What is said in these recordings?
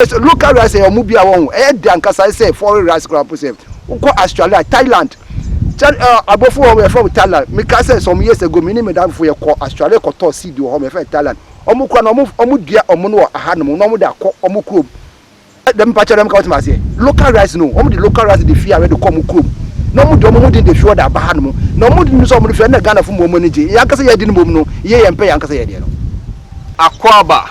Yes local rice ɛyɛ ɔmo bia wɔho ɛyɛ dɛ ankasa ayɛ sɛ foreign rice koraa mpo sɛ wokɔ Australia Thailand kyɛ ɛɛ abɔfo wɔ hɔ yɛfrɛ ɔmo Thailand mekaa sɛ some years ago me ne me dame fo yɛkɔ Australia kɔtɔɔ seed wɔ hɔ yɛfrɛ no Thailand ɔmo kura no ɔmo ɔmo dua ɔmo no wɔ ahanom na ɔmo de akɔ ɔmo kurom dɛm mpakyɛ dɛm ka ɔte maseɛ local rice no ɔmo de local rice de fi awɛ de kɔ ɔmo kurom na ɔmo de ɔmo ho den de fi ɔde aba hanom na ɔmo de no sɛ ɔmo de fi ɛna Ghana fo mu ɔmo ani gye yɛn ankasa yɛde no mmom no yɛ yɛn pɛ yɛn ankasa yɛ deɛ no. Akwaaba,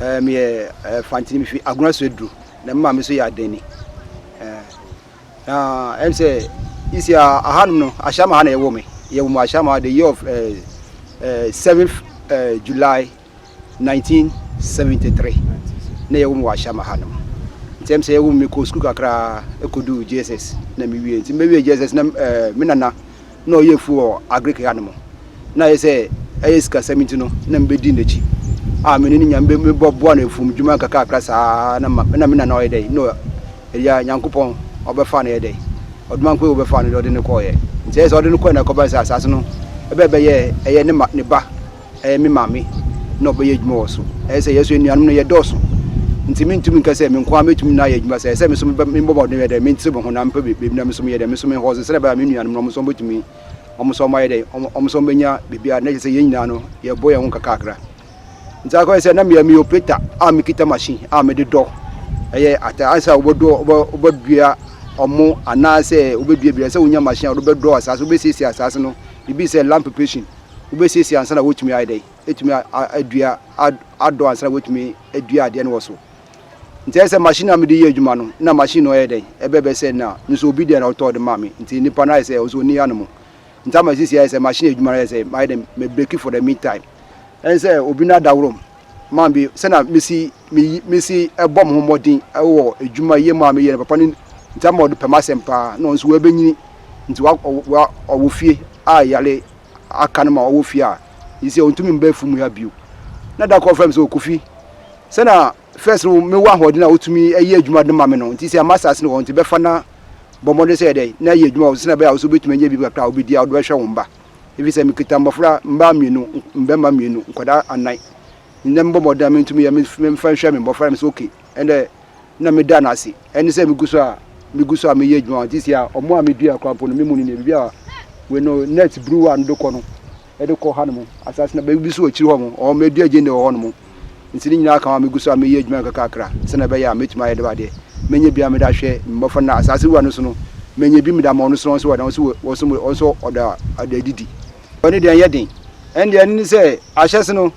Ɛɛ meyɛ ɛɛ fantini mi fi agorɔ so aduru na mma mi so yɛ adani ɛɛ na ɛm sɛ isi ahanom no ahyɛma ha na ɛwɔ mi yɛ wɔn ahyɛma the year of ɛɛ ɛɛ seventh ɛɛ july nineteen seventy three na yɛ wɔn wɔ ahyɛma ha nom nti ɛm sɛ yɛ wɔn mi kɔ sukuu kakra ɛkɔ du jss na mi wie nti mi wie jss na ɛɛ mi nana. na ɔyɛ afuo wɔ Agric ha no mu, na ayɛ sɛ ɛyɛ sikasɛm nti no na mebɛdi n'akyi a me ne ne nya mebɔboa no afuom dwuma kakrakra saa na ma na me nana ɔyɛ dɛn na ɛyɛ Nyankopɔn ɔbɛfa no yɛ dɛn ɔdomankɔ yi ɔbɛfa no de ɔde no kɔɔyɛ nti ɛyɛ sɛ ɔde no kɔɛ na ɛkɔba sɛ asaase no ɛbɛbɛyɛ ɛyɛ ne ma ne ba ɛyɛ me maame na ɔbɛyɛ adwuma wɔ so. Ɛyɛ sɛ yɛn nso anuanom no yɛdɔɔso, nti merentumi nka sɛ me nko ara mɛtumi na ayɛ adwuma saa. Ɛyɛ sɛ me nso mebɔ mmɔden bɛyɛ dɛn? Mentere me ho na mepɛ baabi na me nso meyɛ dɛn? Me nso mehwɛ wɔn so sɛdeɛ ɛbɛyɛ a me nuanom no wɔn nso wɔbɛtumi, wɔn nso wɔayɛ dɛn? Wɔn nso wɔbɛnya biribiara. Na kyerɛ sɛ yɛn nyinaa no, yɛrebɔ yɛn ho nkakrankakra. Nti akɔyɛ sɛ na meyɛ meyɛ operator a mekita machine a mede dɔ ɛyɛ atade. Ayɛ sɛ wobɛdɔ wobɛ wobɛdua ɔmo anaasɛ wobɛdua biribi. Ɛyɛ sɛ wonya machine a wode bɛdɔ asaase, wobɛsiesie asaase no. Biribi te sɛ land preparation. wobɛsiesie ansa na wɔtumi ayɛ dɛn, atumi adua, adɔ ansa na wɔtumi adua adeɛ no wɔ so. Nti ɛyɛ sɛ machine a mede yɛ adwuma no, na machine no ɔyɛ dɛn, ɛbɛbɛ sɛ na me nso obi deɛ na ɔtɔɔ de maa me, nti nipa no ayɛ sɛ ɔnso ɔnni ano mu. Nti ama sisi ayɛ sɛ machine adwuma no ayɛ sɛ mayɛ dɛn, me break for the mean time. Ɛne sɛ obi no adaworom ma me sɛ na mesi, mesi ɛbɔ me ho mmɔden wɔ adwuma yɛ mu a meyɛ no papa no, nti ama ɔde pɛ m'asɛm paa, na ɔnso wabɛnyini, nti ɔwɔ fie a yare aka no ma ɔwɔ fie a, nsɛ ɔntumi mba afuom ha bio. Na da koro ɔfrɛ me sɛ, Kofi, sɛnea first no mewɔ ahoɔden a wotumi yɛ adwuma de ma me no nti, sɛ ama asase no wɔ hɔ nti, bɛfa na bɔ mmɔden sɛ yɛ dɛn na yɛ adwuma wɔ so sɛnea ɛbɛyɛ a wo nso wobɛtumi anya biribi kakra a wobɛdi a wode bɛhwɛ wo mba. Ɛfiri sɛ mekita mmɔfra, mmaa mmienu, mmarima mmienu, nkwadaa anan. Nnɛ mebɔ mmɔden a mentumi yɛ, memfa nhwɛ me mmɔfra. Na me sɛ, okay. ɛnna na meda no ase. Ɛne sɛ megu so a megu so a meyɛ adwuma nti si a ɔmo a medua kora mpo no me mu no nea biribi a wei no net buru a no de kɔ no ɛde kɔ ha no mo asase na baabi so wɔ akyiri hɔ mo ɔmo adu agye ne wɔ hɔ no mo nti ne nyinaa ka ho a megu so a meyɛ adwuma kakrakra sɛ na ɛbɛyɛ a mɛtumi ayɛ de badeɛ mɛnyɛ bi a mede ahwɛ mmɔfra na asase wura no so no mɛnyɛ bi mede ama ɔno so ɔno so wɔ ɔno so wɔ ɔno so ɔda ɔda didi Ɔno deɛ ɛnyɛ den. Ɛno deɛ ɛno ne sɛ ahyɛse no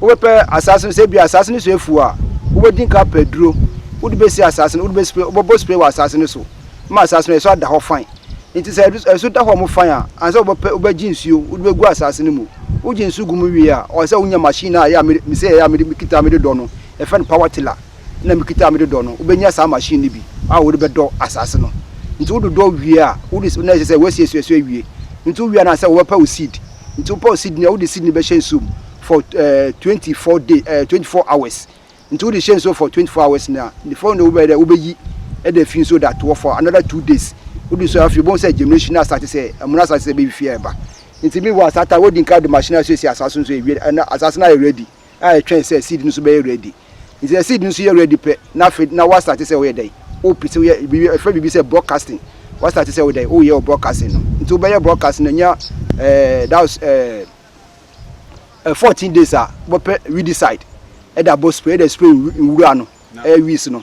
wobɛpɛ asaase no sɛ ebi asaase no so afu a wobɛdi nka apɛ aduro wode bɛsi asaase no wode bɛ spray wobɛbɔ spray wɔ asaase no so ma asaase no ɛso ada hɔ fine nti sɛ ɛso da hɔ mo fine a ansa wobɛpɛ wobɛgye nsuo wode bɛgu asaase no mu wogye nsuo gu mu wie a ɔsɛ wonya machine a ɛyɛ a mede mesɛ ɛyɛ a mede mekita mede dɔ no yɛfrɛ no power tiller na mekita a mede dɔ no, wobɛnya saa machine no bi a wode bɛdɔ asase no. Nti wododɔ wie a, wode na ɛsɛ sɛ woasiesie so awie. Nti wowie a na sɛ wɔbɛpa wo seed. Nti wopɛ wo seed no a, wode seed no bɛhyɛ nsuo mu for eh, 24 day, eh, 24 hours. Nti wode hyɛ nsuo for 24 hours no a, the following day wobɛyɛ dɛ wobɛyi ɛde afi nsuo de atoɔ for another two days. Wode nsuo afei wobɛhu sɛ germination no asate sɛ ɛmono asate sɛ ɛbɛfifie ɛreba. Nti meanwhile saa time wodi nkan de machine no asiesie asase no so awie na asase no ayɛ ready. a ɛtwɛn sɛ seed no nso bɛyɛ ready. Nti sɛ seed no nso yɛ ready pɛ na afei na woastarte sɛ woyɛ dɛn? Wopɛ sɛ woyɛ biribi a ɛfrɛ biribi sɛ broadcasting. Woastarte sɛ wo dɛn? Woyɛ wo broadcasting no. Nti wobɛyɛ broadcasting no anya ɛɛ that was ɛɛ ɛ 14 days a wobɛpɛ weedicide ɛde abɔ spray ɛde spray nwura no ɛyɛ weeds no.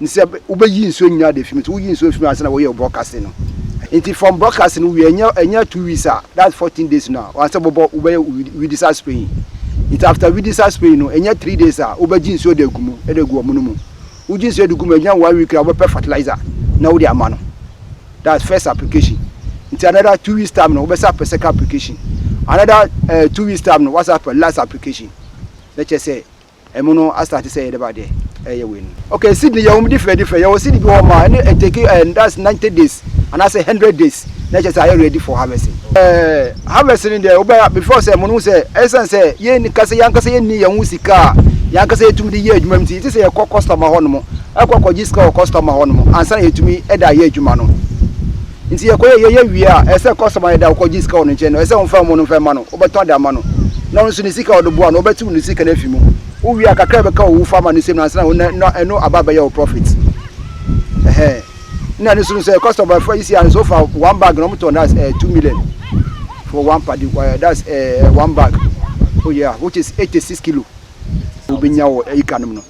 ne sɛ wobɛyi nsuo nyinaa de afi mu nti woyi nsuo fi mu ansa na wɔyɛ broadcasting no nti from broadcasting no wie ɛnyɛ ɛnyɛ two weeks a that's fourteen days no a wɔasɛ bɔbɔ wobɛyɛ widisa spraying nti after widisa spraying no ɛnyɛ three days a wobɛgye nsuo de agu mu de agu ɔmo no mu wogye nsuo de gu mu ɛnyɛ one week a wobɛpɛ fertilizer na wode ama no that's first application nti another two weeks time no wobɛsa pɛ second application another uh, two weeks time no wasa pɛ last application na kyerɛ sɛ Emu no astarte sɛ yɛde ba de ɛyɛ wei no. Okay Sydney yɛwɔ mu different different yɛwɔ Sydney bi wɔ hɔ ma ɛne ɛtake ɛɛ eh, that's ninety days anaasɛ hundred days na ɛkyɛ sɛ ayɛ ready for harvesting. Ɛɛ harvest no deɛ wobɛ before sɛ mo no sɛ ɛsan sɛ yɛn kasa yɛn ankasa yɛn ni yɛn ho sika a yɛn ankasa yɛtumi de yɛ adwuma mu ti yɛte sɛ yɛkɔ customer hɔ nom ɛkɔ kɔgye sika wɔ customer hɔ nom ansa na yɛtumi ɛde ayɛ adwuma no. Nti yɛkɔ yɛ yɛyɛ wie a ɛsɛ sɛ customer no da wo kɔ gye sika wɔ ne nkyɛn no ɛsɛ sɛ wo mfa mu no mfa ma no wo bɛtɔn de ama no na ɔno nso ne sika a ɔde boa no wo bɛ tew ne sika no afi mu wo wie a kakra a ɛbɛka wo wo fa ma no nsam no ansa na wo na na ɛno aba abɛyɛ wo profit ɛhɛn na ɛno nso no sɛ customer fa isi ano sɛ wofa one bag na wɔn tɔn that's uh, two million for one padi uh, eh, that's uh, one bag oh yeah which is eighty six kilo wobɛnya wɔ ika nom no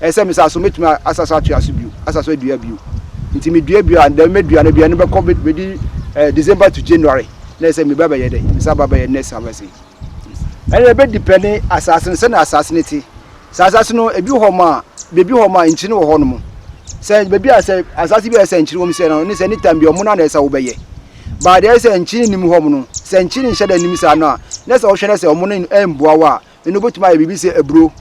Ɛyɛ sɛ mesaa so, mɛtumi asa so atoa so bio, asa so adua bio. Nti medua bio a, dɛm mɛdua no, dua no bɛkɔ, bɛdi eh, December to January, na ɛsɛ meba bɛyɛ dɛ, mesa ba bɛyɛ next harvest yi. Ɛna ɛbɛ depɛne asaase no, sɛnea asaase no te. Sɛ asaase no, ebi wɔ hɔ ma, bebi wɔ hɔ ma nkyiri wɔ hɔ nom. Sɛ bebi a sɛ asaase bi a ɛsɛ nkyiri wɔm sɛ no, ne sɛ ne tam bi ɔmo na na ɛsɛ wobɛyɛ. Baa deɛ ɛsɛ nkyiri nim hɔ nom no, sɛ nkyiri nhyɛ da nim saa no a, na sɛ ɔhwɛ na sɛ ɔmo no ɛmboa wo a, ɛno wobɛtumi ayɛ biribi sɛ aburo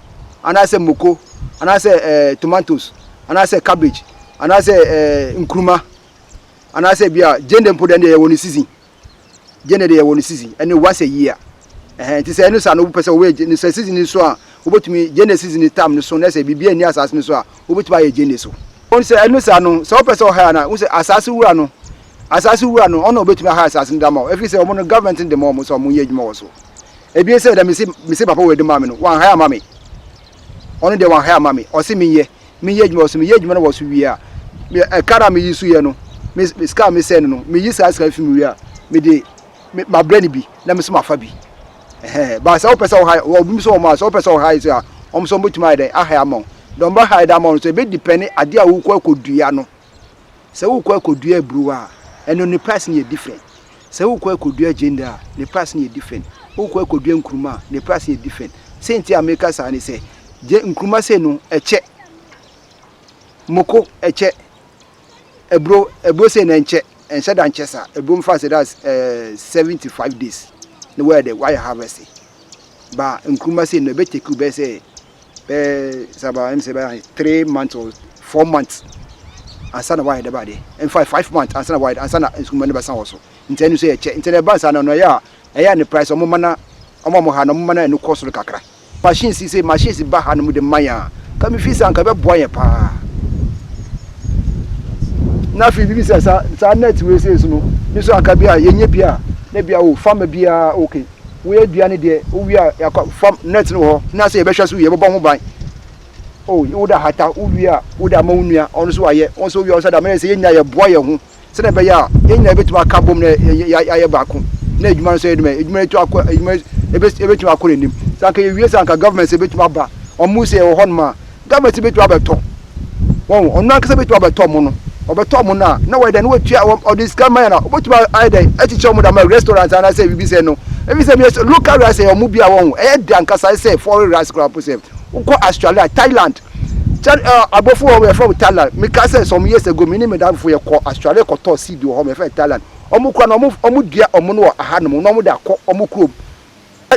anaasɛ moko anaasɛ ɛɛ eh, tomatoes anaasɛ cabbage anaasɛ ɛɛ eh, nkuruma anaasɛ bi a gyende mpo deɛ yɛwɔ no season gyende deɛ yɛwɔ no season ɛne once a year ɛhɛn nti sɛ ɛno saa no wopɛ sɛ wɔyɛ no sɛ season no so a wobɛtumi gyende season tam no so na sɛ biribi ani asaase no so a wobɛtumi ayɛ gyende so wɔn sɛ ɛno saa no sɛ wopɛ sɛ ɔha na wo sɛ asaase wura no asaase wura no ɔna obɛtumi aha asaase no dama ɛfiri sɛ ɔmo no government no de ma ɔmo sɛ ɔmo yɛ adwuma wɔ so Ebien sɛ da mese mese papa wɔ de maa me no wanhae ama me ɔno deɛ wanhae ama me ɔse menyɛ menyɛ adwuma wɔ so meyɛ adwuma no wɔ so wie a me ɛka no a meyi so yɛ no me sika a mesɛn no no meyi saa sika fi mu wie a mede mabrɛ no bi na me so mafa bi ɛhɛn ba sɛ wopɛ sɛ ɔhae wɔ bi so wɔn a sɛ wopɛ sɛ ɔhae so a wɔn so wɔn bɛtumi ayɛ dɛn ahae ama wo dɔn bɛhae dɛ ama wo no so ɛbɛdipɛne adeɛ a wokɔ akɔdua no Sɛ wokɔ akɔdua aburo a, ɛno ne price no yɛ different. Sɛ wokɔ akɔdua gyeene a, ne price no yɛ different. Wokɔ akɔdua nkuruma a, ne price no yɛ different. Sɛ nti a meka saa ne sɛ, gye nkuruma sei no ɛkyɛ, moko ɛkyɛ, aburo aburo sei no ɛnkyɛ, ɛnhyɛ da nkyɛ saa. Aburo mfa sɛ that's uh, 75 days na wɔyɛ dɛ wɔayɛ harvest. Ba nkuruma sei no ɛbɛtɛkiw bɛyɛ sɛ bɛyɛ sɛ about ɛm sɛ bɛyɛ three months or four months ansa na wayɛ dɛ baade ɛnfa five months ansa na wayɛ ansa na nsukuma no bɛsan wɔ so nti ɛno nso yɛ kyɛ nti na ɛba nsa na ɔno ɛyɛ a ɛyɛ a ne price ɔmo ma na ɔmo ɔmo ha na ɔmo ma na ɛno kɔ soro kakra machines yi sɛ machines ba ha no mu de ma yɛn a ka me fi sa nka ɛbɛboa yɛn paa na afei bibi sɛ sa saa net wei sɛ so no ne so anka bi a yɛnyɛ bi a na bi a o fama bi a okay Woyɛ adua ne deɛ wowie a yɛakɔ fam net no wɔ hɔ na sɛ yɛbɛhwɛ so yɛbɛbɔ ho ban o oh, wode ahata wowie a wode ama wo nua ɔno nso ayɛ wɔn nso wowie ɔno nso ada mɛyɛ sɛ yɛn nyinaa yɛboa yɛn ho sɛdeɛ ɛbɛyɛ a yɛn nyinaa yɛbɛtumi aka bom na yɛayɛ baako na adwuma no nso yɛ dɛm adwuma yɛtu akɔ adwuma yɛbɛtumi akɔ n'anim sɛ anka yɛwie sɛ anka government sɛ yɛbɛtumi aba wɔn mu sɛ yɛwɔ hɔ nom a Garment no bɛtumi abɛtɔ, wɔn, ɔno ankasa bɛtumi abɛtɔ mo no, ɔbɛtɔ mo no a, na wɔyɛ dɛn, na wɔtua, wɔn, ɔde sika ma yɛn a, wɔbɛtumi ayɛ dɛn, akyekyɛ wɔn de ama restaurant anaasɛ biribi sɛ no, ɛfiri sɛ meyɛ sɛ local rice yɛ wɔn bi a wɔn, ɛyɛ de ankasa ayɛ sɛ foreign rice koraa mpo sɛ, wokɔ Australia, Thailand, China, ɛɛ, aborɔfo wɔ hɔ yɛfrɛ wɔn Thailand, mekaa sɛ some years ago me ne me damfo yɛkɔ Australia kɔtɔɔ seed wɔ hɔ yɛfrɛ no Thailand, wɔn koraa no wɔn, wɔn dua wɔn no wɔ ahanom na wɔde akɔ wɔn kurom.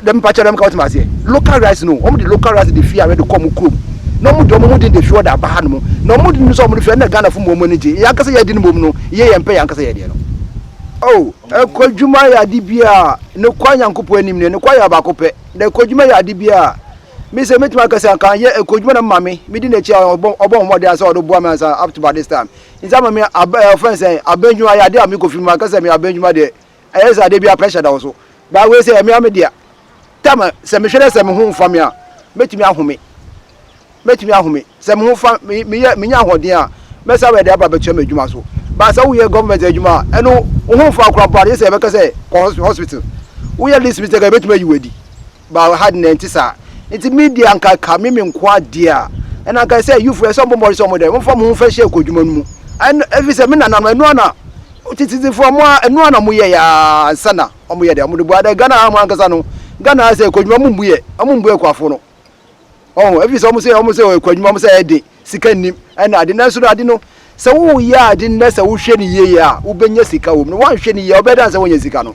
Dɛm mpakyɛ dɛm ka wo tse ma aseɛ. Local rice no wɔn de local rice de fia de kɔ wɔn kurom na wɔn de wɔn ho den de fua de aba ha nom na wɔn de no nso a wɔn de fua ɛna Ghana fo mmom wɔn ani gye yɛn ankasa yɛn de no mmom no yɛ yɛn pɛ yɛn ankasa yɛn deɛ no. Oh ɛkwadwuma yɛ ade bi a ne kwa Nyankopɔn anim no ne kwa yɛ ɔbaako pɛ na ɛkwadwuma yɛ ade bi a me sɛ mɛtumi aka sɛ anka anyɛ ɛkwadwuma na me maame me di n'akyi a ɔbɔ ɔbɔ ho mmɔden sɛ ɔde boa me ansa up to by this time nti ama me aba ɛfɛn sɛ abɛndwuma yɛ ade a me kɔ fi mu anka sɛ me abɛndwuma deɛ Ɛyɛ saa da biara pressure da wo so. But wei sɛ ɛmea me dea. Tam sɛ mehwɛ dɛ sɛ me ho mfa me a, mɛtumi ahome. Mɛtumi ahome. Sɛ me ho fa me meyɛ menya ahoɔden a, mɛsan bɛde aba abɛtoa m'adwuma so. But sɛ woyɛ government adwuma a, ɛno wo ho mfa wo koraa mpo a, gye sɛ yɛbɛka sɛ kɔ hospital. Woyɛ this mistake a, yɛbɛtumi ayi wo adi. but ha de na ɛnte saa. Nti me deɛ anka ka me me nkoa deɛ a, ɛna anka sɛ youth ɛsɛ ɔmo mmɔden sɛ ɔmo dɛ, ɔmo fa ɔmo ho fɛ hyɛ ɛkɔdwuma no mu. Ɛn ɛfi sɛ me nana no ɛno ana tititifoɔ ɔmo a ɛno ana ɔmo yɛ yɛ aa nsa na ɔmo yɛ dɛ ɔmo de boa dɛ Ghana ha mo ankasa no Ghana ha sɛ ɛkɔdwuma ɔmo mbu yɛ ɔmo mbu ɛkuafoɔ no ɔho ɛfi sɛ ɔmo sɛ ɔmo sɛ ɛkɔdwuma ɔmo sɛ ɛde sika nnim ɛna ade nanso no ade no sɛ wo yɛ ade no na sɛ wo hwɛ ne yie yɛ a wo bɛnya sika wɔ mu no wɔn hwɛ ne yie a ɔbɛyɛ dan sɛ wɔnyɛ sika no.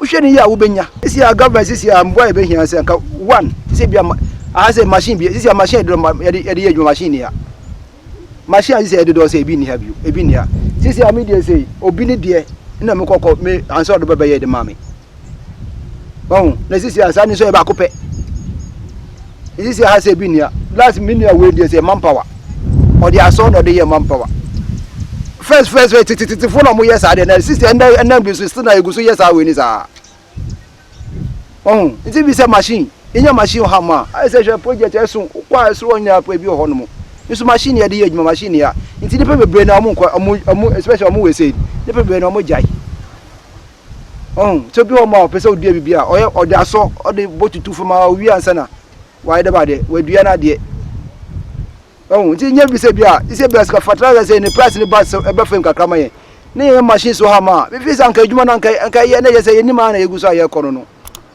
Wohwɛ no yie a wobɛnya. Sisi a government sisi a mmoa a yɛbɛhia sɛ nka one sisi ebi ama aha sɛ machine bi sisi a machine yɛde ma yɛde yɛde yɛ adwuma machine ni ha machine a sisi a yɛde dɔɔ sɛ ebi ni ha bio ebi ni ha sisi a mi deɛ sɛ obi ne deɛ na mi kɔkɔ mi ansa ɔde bɛbɛyɛ de ma mi wɔn na sisi a saa ni nso yɛ baako pɛ. Isi sɛ ha sɛ bi nua. Last me nua wei deɛ sɛ man power. Ɔde asɔn na ɔde yɛ man power. First first first tetetetefo na ɔmo yɛ saa deɛ na sisi ɛnɛ ɛnɛ bi so sisi na egu so yɛ saa wei ni saa. Ɔho nti bi sɛ machine yɛnya machine ha ma ayɛ sɛ hwɛ project ɛso kɔ a ɛsoro ɔnyinaa pɔ ebi wɔ hɔ nom. Nso machine yɛde yɛ adwuma machine ya nti nipa bebree na ɔmo nkɔ ɔmo ɔmo especially ɔmo wɔ ɛsɛ nipa bebree na ɔmo gyae. Ɔho, sɛ bi wɔ mu a ɔpɛ sɛ ɔdua biribi a, ɔyɛ ɔde asɔ, ɔde bɔ tutu fam a ɔwie ansa na wayɛ dɛm adeɛ, wadua no adeɛ. Ɔho, nti nyɛ bi sɛ bi a, sɛ bi a sika fertilizer sɛ ne price ne ba sɛ ɛbɛ fam kakra ma yɛn. Ne yɛn machines wɔ ha ma a, mefi sɛ anka adwuma no anka anka yɛ na yɛ sɛ yɛnim a na yɛgu so a yɛkɔ no no.